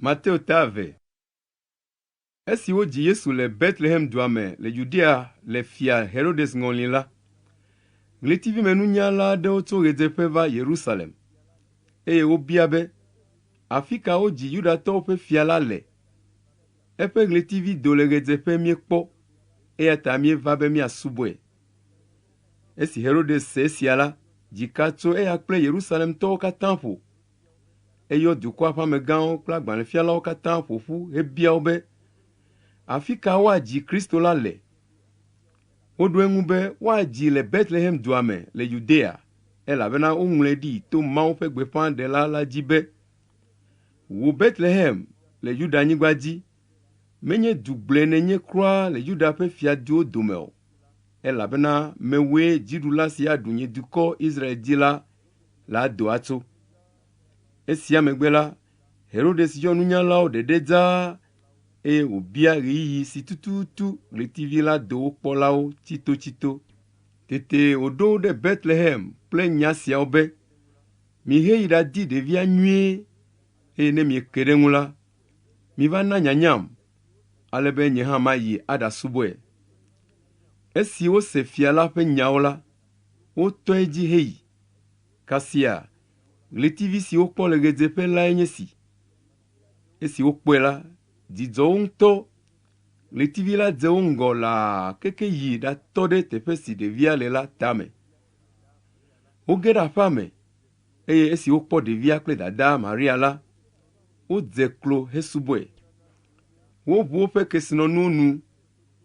Mateo ta eve. Esi wodzi Yesu le Betlehemdua me le Yudea le Fia Herodes ŋɔli la, ɣletivimenunyala aɖewo tso ɣedzeƒe va Yerusalem, eye wobia be, Afika wodzi Yudatɔwo ƒe fia la le? Eƒe ɣletivi do le ɣedzeƒe míekpɔ, eyata míeva be míasubɔe. Esi Herodes se esia la, dzi ka tso eya kple Yerusalemtɔwo katã ƒo. Eyɔ dukɔa ƒe amegãwo kple agbalẽfialawo katã ƒo ƒu hebia wo be, Afi ka woadzi Kristo la le? Woɖo eŋu be, Woadzii le Betlehem dua me le Yudea, elabena woŋlɔe ɖi to Mawu ƒe gbeƒãɖela la dzi be, Wò Betlehem le Yuda-nyigba dzi, menye du gblɔe nènye kura le Yuda ƒe fiaduwo dome o, elabena mewòe dziɖula si aɖu nye dukɔ Israel dzi la la do atso. Esia megbe la, Herodes yɔ nunyalawo ɖeɖe dzaa eye wòbia ɣeyiɣi si tututu ɣletivi la do wo kpɔlawo tsitotsito. Tete wòɖo wo ɖe Betlehem kple nya siawo be, Miheyi ɖadi ɖevia nyuie, eye ne mieke ɖe eŋu la, miva na nyanyam, ale be nye hã mayi aɖasubɔe. Esi wose fia la ƒe nyawo la, wotɔe dzi heyi. Kasia, ɣletivi si wokpɔ le ɣedzeƒe lae nye esi. Esi wokpɔe la, dzi dzɔ wo ŋutɔ. Ɣletivi la dze wo ŋgɔ laa keke yi ɖatɔ ɖe teƒe si ɖevia le la tame. Woge ɖe aƒea me, eye esi wokpɔ ɖevia kple dadaa Maria la, wodze klo hesubɔe. Woʋu woƒe kesinɔnuwo nu,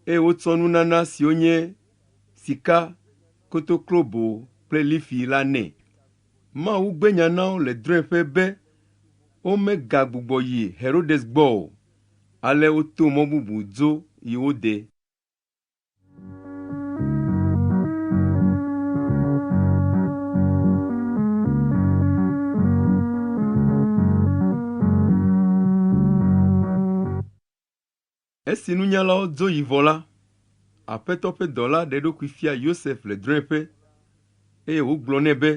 eye wotsɔ nunana siwo nye sika, kotoklobo kple lifi la nɛ. Mawu gbe nya na wo le drɔ̃eƒe be womegagbugbɔ yi Herodes gbɔ o, ale woto mɔ bubu dzo yi wo de. Esi nunyalawo dzo yi vɔ la, Aƒetɔ ƒe dɔla ɖe eɖokui fia Yosef le drɔ̃eƒe, eye wògblɔ nɛ be,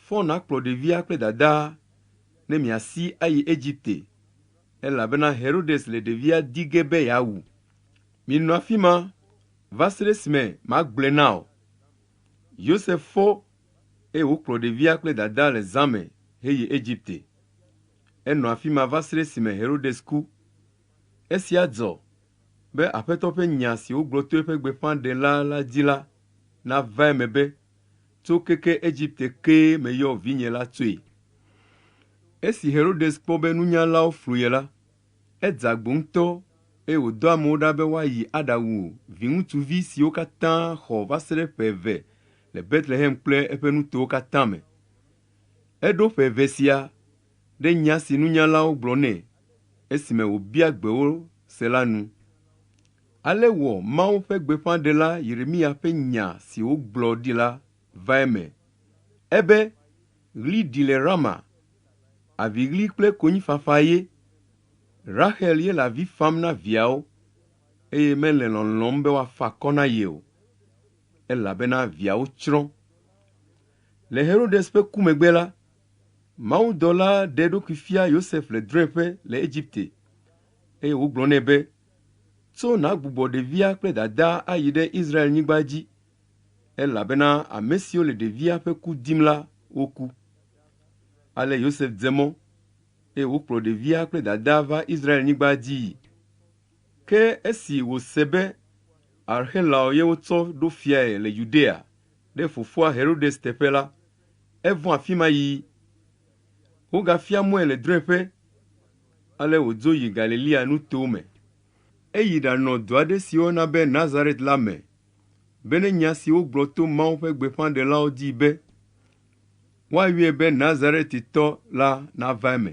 Fɔ nàkplɔ ɖevia kple dadaa ne miasi ayi Egipte, elabena Herodes le ɖevia di ge be yeawu. Minɔ afi ma va se ɖe esime magblɔe na wò. Yosef fɔ, eye wòkplɔ ɖevia kple dadaa le zã me heyi Egipte. Enɔ afi ma va se ɖe esime Herodes ku. Esia dzɔ be Aƒetɔ ƒe nya si wogblɔ to eƒe gbeƒãɖela la dzi la nava eme be, Tso keke Egipte kee meyɔ vinye la tsoe. Esi Herodes kpɔ be nunyalawo flu ye la, edze agbo ŋutɔ eye wòdɔ amewo ɖa be woayi aɖawu viŋutsuvi siwo katã xɔ va se ɖe ƒe eve le Betlehem kple eƒe nutowo katã me. Eɖo ƒe eve sia ɖe nya si nunyalawo gblɔ nɛ esime wòbia gbe wo se la nu. Ale wɔ Mawu ƒe gbeƒãɖela Yeremiya ƒe nya si wògblɔ ɖi la va eme. Ebe, Ɣli ɖi le Rama, aviɣli kple konyifafa ye. Raxel ye le avi fam na viawo, eye mele lɔlɔ̃m be woafa akɔ na ye o, elabena viawo tsrɔ̃. Le Herodes ƒe ku megbe la, Mawudɔla ɖe eɖokui fia Yosef le drɔ̃eƒe le Egipte, eye wògblɔ nɛ be, Tso nàgbugbɔ ɖevia kple dadaa ayi ɖe Israel-nyigba dzi, elabena ame siwo le ɖevia ƒe ku dim la, woku. Ale Yosef dze mɔ, eye wokplɔ ɖevia kple dadaa va Israel-nyigba dzii. Ke esi wòse be Arxelao ye wotsɔ ɖo fiae le Yudea ɖe fofoa Herodes teƒe la, Evɔ̃ afi ma yi. Wogafia mɔe le drɔ̃eƒe, ale wòdzo yi Galilea nutowo me. Eyi ɖanɔ du aɖe si woyɔna be Nazaret la me, bene nya si wogblɔ to Mawu ƒe gbeƒãɖelawo dzi be, Woayɔe be Nazaretitɔ la nava eme.